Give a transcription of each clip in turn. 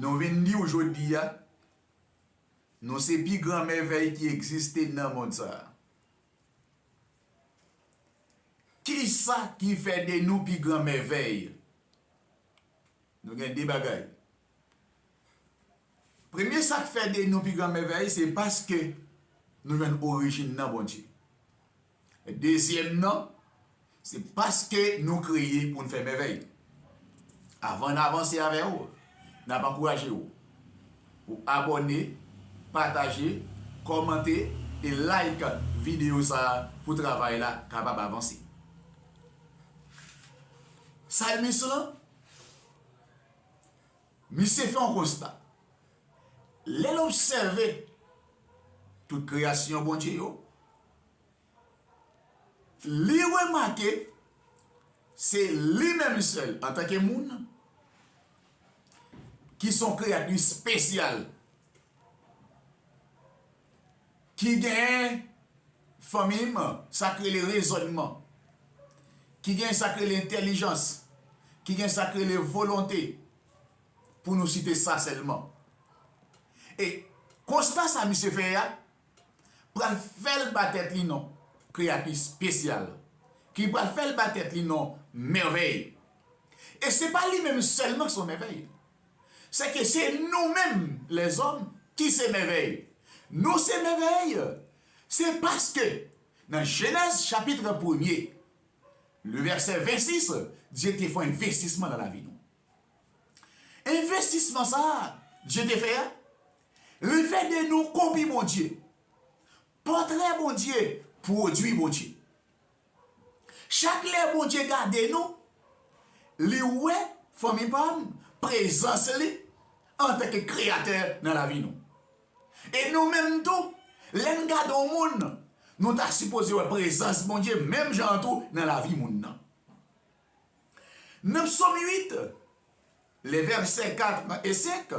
Nou vin di w jodi a, nou se pi gran mèvèy ki egziste nan mond sa a. Kisa ki fè de nou pi gran mèvèy? Nou gen de bagay. Premye sa k fè de nou pi gran mèvèy se paske nou jwenn orijin nan Bondye. Dezyèm nan, se paske nou kreye pou n fè mèvèy. Avan n avanse avè w, n ap ankouraje w pou w abòne, pataje, kòmante e like videyo sa a pou travay la kapab avanse. Salmis lan, misye fè yon konsta, lè l obsève tout kreyasyon Bondye yo, Li remake se li menm sèl antanke moun ki son kreyati spesyal ki gen fanmi m sa k rele rezònman, ki gen sa k rele entèlijans, ki gen sa k rele volonte pou nou site sa sèlman. E konsta sa misye fè a pral fè l ba tèt li non kreyati spesyal, ki pral fè l ba tèt li non mèvèy. E se pa li menm sèlman ki se yon mèvèy, se ke se nou menm lèzòm ki se mèvèy. Nou se mèvèy, se paske nan Jenèz chapitre premye, le vèsè 26, Dye te fè yon envestisman nan lavi nou. Envestisman sa a Dye te fè a, Refè de nou kopi Bondye. Pòtrè Bondye, pwodui Bondye. Chak lè Bondye gade nou, li wè, fanmi pa m, prezans li antanke Kreyatè nan lavi nou. E nou menm tou, lè n gade yon moun, nou ta sipoze wè prezans Bondye menm jan an tou nan lavi moun nan. Nan Psòm 8, lè vèsè 4 e 5,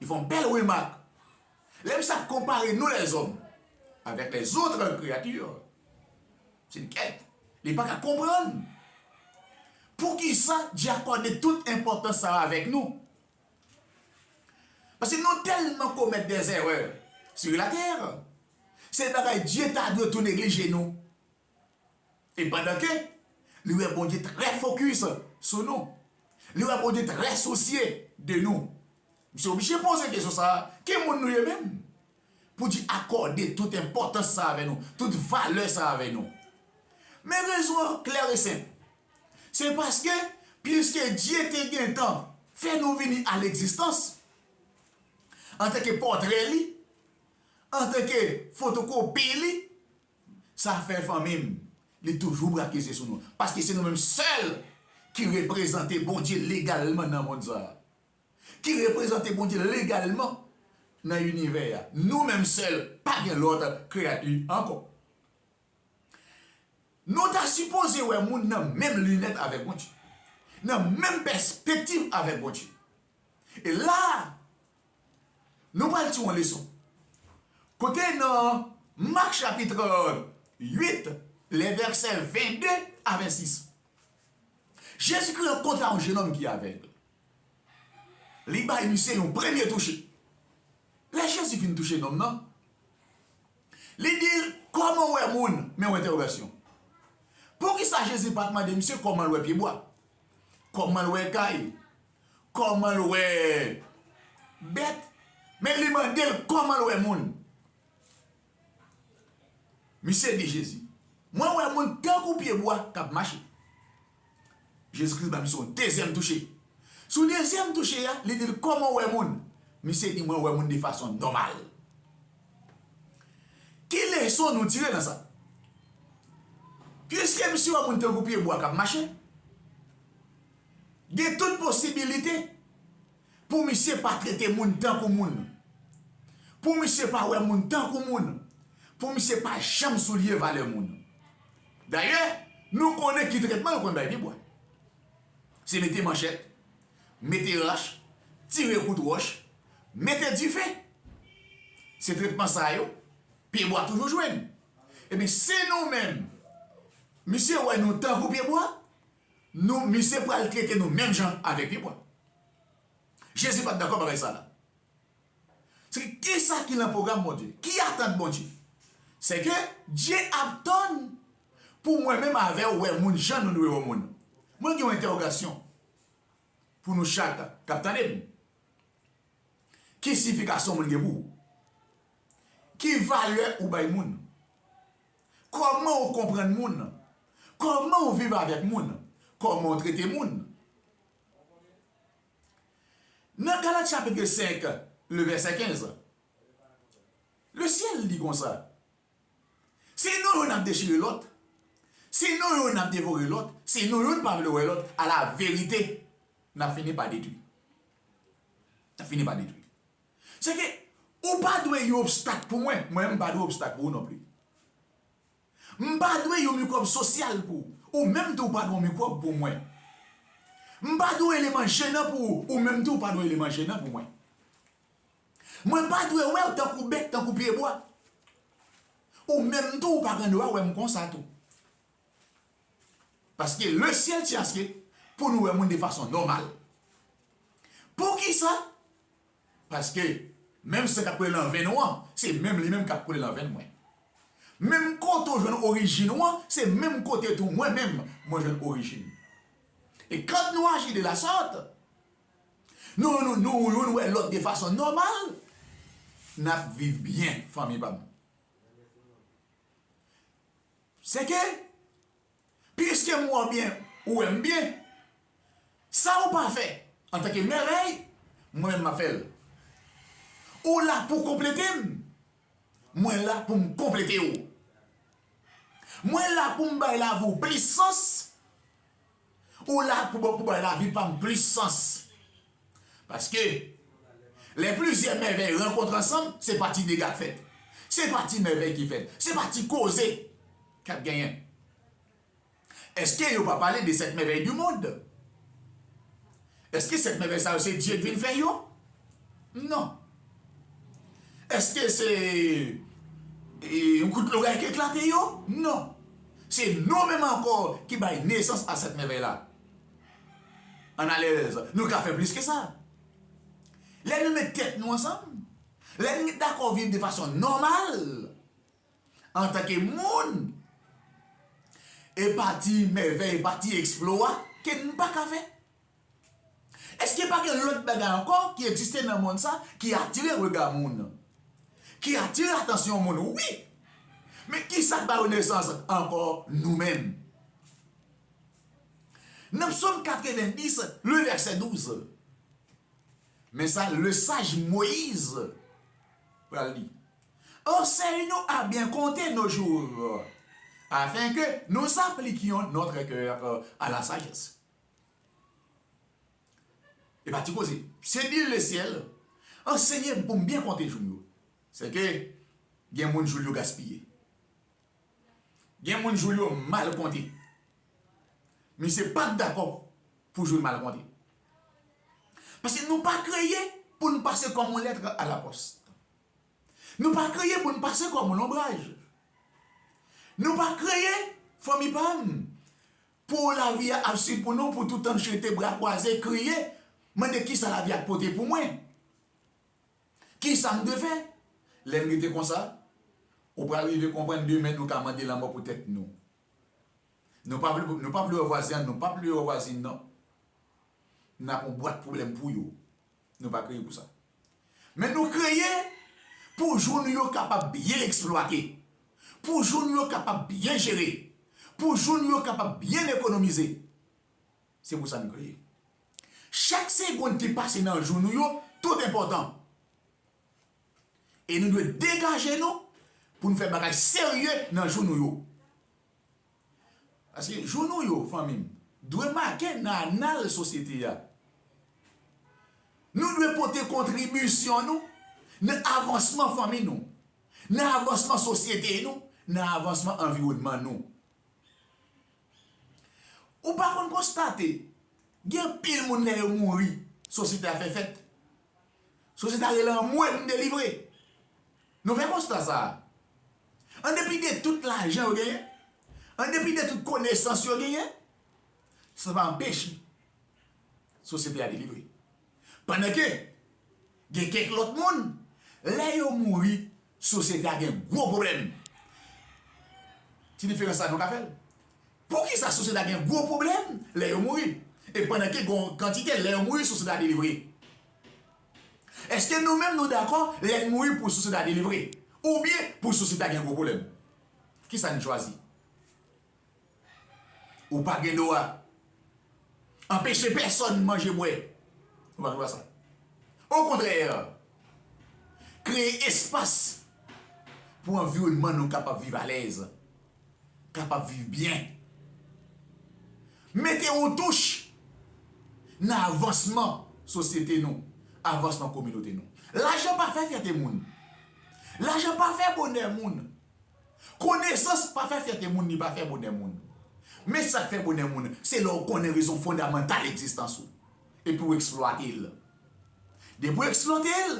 Li fè yon bèl remak, Lè misye ap konpare nou lèzòm avèk lèzotre kreyati, se li kèt, li pa ka konprann poukisa Dye akòde tout enpòtans sa a avèk nou. Paske nou tèlman komèt dèzèrè sou latè, se bagay Dye ta dwe tou neglije nou. E pandan ke li wè Bondye trè fokis sou nou, li wè Bondye trè sousye de nou, misye oblije poze kesyon sa a, Ki moun nou ye menm? Pou di akòde tout enpòtans sa avè nou, tout valè sa avè nou. Men rezon an klè e senp. Se paske, piske Dye te gentan fè nou vini a legzistans, antanke pòtre li, antanke fotokopi li, Sa fè fanmi m li toujou brake zye sou nou. Paske se nou menm sèl ki reprezante Bondye legalman nan mond sa a. Ki reprezante Bondye legalman nan inivè a. Nou menm sèl, pa gen lòt kreyati ankò. Nou ta sipoze wè moun nan menm linèt avèk Bondye. Nan menm pèspektiv avèk Bondye. E la a, nou pral tiron leson. Kote nan Mak chapitre 8, le vèsè 22 a 26, Jezikri rankontre a yon jenòm ki avèg. Li bay misye yon premye touche. Lè Jezi fin touche nonm nan, li di l, Kòman w wè moun? Men yon entèwogasyon. Poukisa Jezi pa t mande misye kòman l wè pyebwa? Kòman l wè kay? Koman l wè bèt men li mande l koman l wè moun. Misye di Jezi, Mwen wè moun tankou pye bwa k ap mache. Jezi Kris ba misye yon dezyèm touche. Sou dezyèm touche a, li di l, Koman w wè moun? Misye di, Mwen wè moun de fason nòmal. Ki leson nou tire nan sa? Piske misye wè moun tankou pye bwa k ap mache, Gen tout posibilite pou misye pa trete moun tankou moun. Pou misye pa wè moun tankou moun. Pou misye pa janm souliye valè moun. Dayè, nou konnen ki tretman yo konn bay pibwa. Se mete manchèt, mete rach, tire kout wòch, mete dife. Se tretman sa yo, pyebwa toujou jwenn. Ebyen, si nou menm, misye wè nou tankou pyebwa, Nou misye pral trete nou menm jan avek li mwen. Jezi pat dakò bagay sa la. Se kisa ki lan program Bondye? Ki atant Bondye? Se ke Dye ap tann pou mwen menm avew we moun jan nou dwe we moun. Mwen gen yon entèwogasyon pou nou chak kap tandem. Ki sifikasyon moun gen pou ou? Ki valè ou bay moun? Kòman ou konprann moun? Kòman ou viv avèk moun? Kòman ou trete moun? Nan Galat chapitre 5, le vèsè 15, le syèl di konsa, Se nou youn ap dechire lòt, se nou youn ap devore lòt, se nou youn pa vle wè lòt, alaverite, n ap fini pa detwi. N ap fini pa detwi. Sèke, ou pa dwe yon obstak pou mwen, mwen menm m pa dwe obstak pou ou nonpli. M pa dwe yon mikwòb sosyal pou ou, ou menm tou ou pa dwe yon mikwòb pou mwen. M pa dwe yon eleman jenan pou ou, ou menm tou ou pa dwe yon eleman jenan pou mwen. Mwen pa dwe wè ou tankou bèk, tankou pyebwa. Ou menm tou ou pa gen dwa wè m konsa tou. Paske le ciel ti aske pou nou wè moun de fason nòmal. Poukisa? Paske menm san kap koule lan venn ou an, se menm li menm kap koule lan venn mwen. Menm kote ou jwenn orijin ou an, se menm kote tou mwen menm mwen jwenn orijin. E kant nou aji de la sort, nou nou nou youn wè lòt de fason nòmal, nap viv byen fanmi pam. Sèke, piske m wè w byen, ou wè m byen. Sa ou pa fè antanke mèvèy, mwen menm m ap fè l. Ou la pou w konplete m, mwen la pou m konplete ou. Mwen la pou m bay lavi w plis sans, Ou la pou bon pou bay lavi pa m plis sans. Paske, lè plizyè mèvèy rankontre ansanm, se pa ti dega k fèt. Se pa ti mèvèy ki fèt. Se pa ti koze k ap genyen. Eske yo pa pale de sèt mèvèy di mond? Èske 7 mèvèy sa yo se Dye k vin fè yo? Non. Èske se yon kout loray ki eklate yo? Non. Se nou menm ankò ki bay nesans a 7 mèvèy la. Ann alèz, nou ka fè plis ke sa. Lè nou met tèt nou ansanm, lè nou met dakò viv de fason nòmal, Antanke moun, e pa ti mèvèy, e pa ti eksplwa ke n pa ka fè. Eske pa gen lòt bagay ankò ki egziste nan monn sa ki atire rega moun? Ki atire atansyon moun? Wi! Men ki sa k ba yo nesans ankò? Nou menm. Nan Psòm 90, le vèsè 12, men sa lesaj Moyiz pral di. Enseigne nous à bien compter nos jours, afin que nous appliquions notre cœur à la sagesse. E pa ti koze. Senyè le syèl, anseye m pou m byen konte jou m yo. Se ke gen moun jou l yo gaspiye. Gen moun jou l yo mal konte. Misye pa t dakò pou jou l mal konte. Pase nou pa kreye pou nou pase kòm on lètre a la pòs. Nou pa kreye pou n pase kòm lonbraj. Nou pa kreye, fanmi pa m, pou lavi a ap suiv pou nou pou toutan jete bra kwaze, kriye, mande kisa lavi a pote pou mwen. Kisa m dwe fè? Lè n rete konsa, ou pral rive konprann demen nou ka mande lanmò pou tèt nou. Nou pa vle nou pa vle wè vwazen an nou pa p vle wè vwazin nan nan yon bwat pwoblèm pou yo. Nou pa kreye pou sa. Men nou kreye pou jou nou yo kapab byen eksplwate, pou jou nou yo kapab byen jere, pou jou nou yo kapab byen ekonomize. Se pou sa nou kreye. Chak segond ki pase nan jou nou yo tout enpòtan. E nou dwe degaje nou pou nou fè bagay serye nan jou nou yo. Paske jou nou yo, fanmi m, dwe make nan anal sosyete a. Nou dwe pote kontribisyon nou nan avansman fanmi nou, nan avansman sosyete nou, nan avansman anviwònman nou. Ou pa konn konstate, gen anpil moun lè yo mouri, sosyete a fè fèt. Sosyete a rele anmwe m delivre. Nou fè konsta sa a? An depi de tout lajan yo genyen, an depi de tout konesans yo genyen, sa pa anpeche sosyete a delivre. Pandan ke gen kèk lòt moun, lè yo mouri, sosyete a gen gwo pwoblèm. Ti diferans sa nou ka fèl. Poukisa sosyete a gen gwo pwoblèm lè yo mouri? E pandan ke gen yon kantite lè yo mouri sosyete a delivre? Èske nou menm nou dakò lè n mouri pou sosyete a delivre oubyen pou sosyete a gen gwo pwoblèm? Ki sa n chwazi? Ou pa gen dwa anpeche pèsonn manje bwè, ou pa gen dwa sa. Okontrè, kreye espas pou anviwònman nou kapab viv alèz. kapab viv byen. Mete yon touch nan avansman sosyete nou, avansman kominote nou. Lajan pa fè fyète moun. Lajan pa fè bonè moun. Konesans pa fè fyète moun, li pa fè bonè moun. Men sa k fè bonè moun, se lè ou konnen rezon fondamantal egzistans ou, epi ou eksplwate l. Depi ou eksplwate l,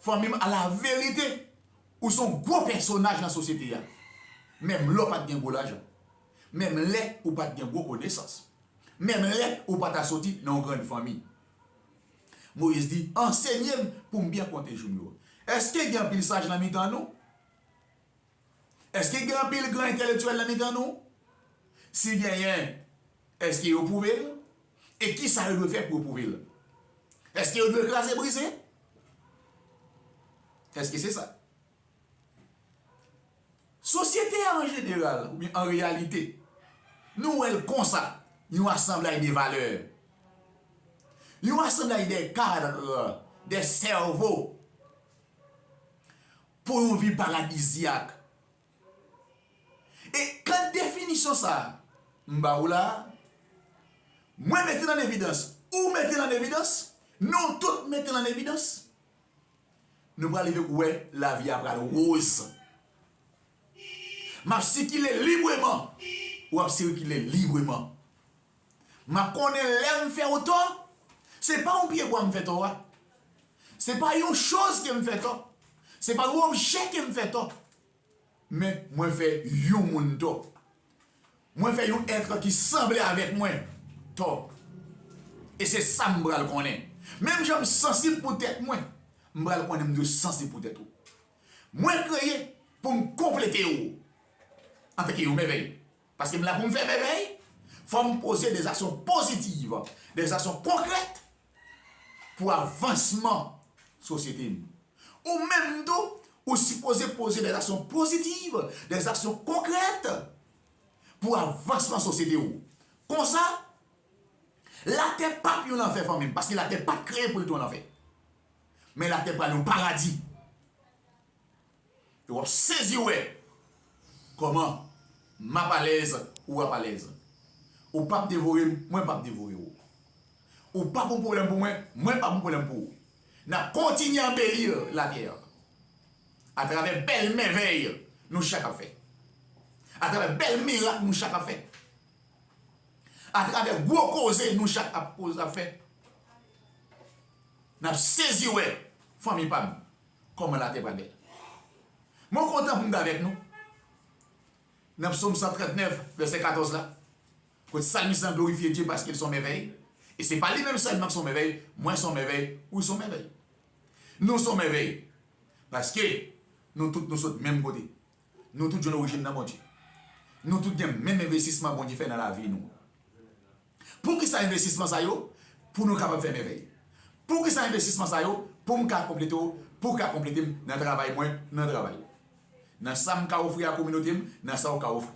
Fanmim ala verite ou son gwo pèsonaj nan sosyete a menm lè w pat gen gwo lajan menm lè ou pat gen gwo konesans menm lè ou pa ta soti nan yon grann fanmi Moyiz di ansenye m pou m byen konte jou m yo èske gen anpil saj nan mitan nou? Èske gen anpil gran entelektyèl nan mitan nou? Si genyen, èske yo pwouve l? E ki sa yo dwe fè pou yo pwouve l? Èske yo dwe kraze brize? Èske se sa? Sosyete a an jeneral oubyen an reyalite, nou wè l konsa, yon asanblay de valè, yon asanblay de kadre, de sèvo. Pou yon vi paradizyak. E kad definisyon sa a m ba ou la a, mwen mete l an evidans, ou mete l an evidans, nou tout mete l an evidans, nou pral rive pou wè lavi a pral woz. M ap sikile libreman, ou ap sirkile libreman. M ap konnen lè m fè ou tò, se pa yon pyebwa m fè tò a, se pa yon choz ke m fè tò, se pa yon objè ke m fè tò, men mwen fè yon moun tò. Mwen fè yon èt ki sanble avèk mwen tò. E se sa m pral konnen. Menm jan m sansib pou tèt mwen, m pral konnen m dwe sansib pou tèt ou. Mwen kreye pou m konplete ou. Anfen ki yon mèvèy. Paske m la pou m fè mèvèy, fò m poze de zaksyon pozitiv, de zaksyon konkrèt pou avansman sosyete m. Ou menm tou, ou sipoze poze de zaksyon pozitiv, de zaksyon konkrèt pou avansman sosyete ou. Konsa, latè p ap yon lanfè fanmi m, paske latè pa t kreye pou l te yon lanfè. Men latè pral yon paradi. E wap sezi wè Koman map alèz ou ap alèz Ou pap devore m mwen pap devore ou Ou pap yon pwoblèm pou mwen mwen pap yon pwoblèm pou ou Nap kontinye anbeli latè an Atravè bèl mèvèy nou chak ap fè Atravè bèl mirak nou chak ap fè Atravè gwo koze nou chak ap fè Nap sezi wè fanmi pam Kòman latè pral bèl. Mwen kontan pou m t avèk nou nan psaume 139 vèsè 14 la kote salmis lan glorifye Dye paske l s on mèvèy e se pa li menm sèlman k s on mèvèy mwen s on mèvèy ou s on mèvèy nou s on mèvèy paske nou tout nou sot menm kote nou tout jwenn orijin nan Bondye nou tout gen menm envestisman Bondye fè nan lavi nou. Poukisa envestisman sa yo? Pou nou kapab fè mèvèy. Poukisa envestisman sa yo? Pou m ka konplete w, pou w ka konplete m nan travay mwen, nan travay ou. Nan sa m ka ofri a kominote m, nan sa ou ka ofri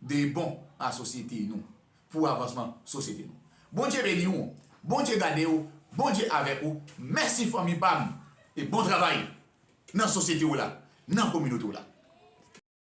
de bon a sosyete nou, pou avansman sosyete nou. Bondye beni ou, Bondye gade ou, Bondye avèk ou. Mèsi fanmi pa m e bon travay nan sosyete w la, nan kominote w la.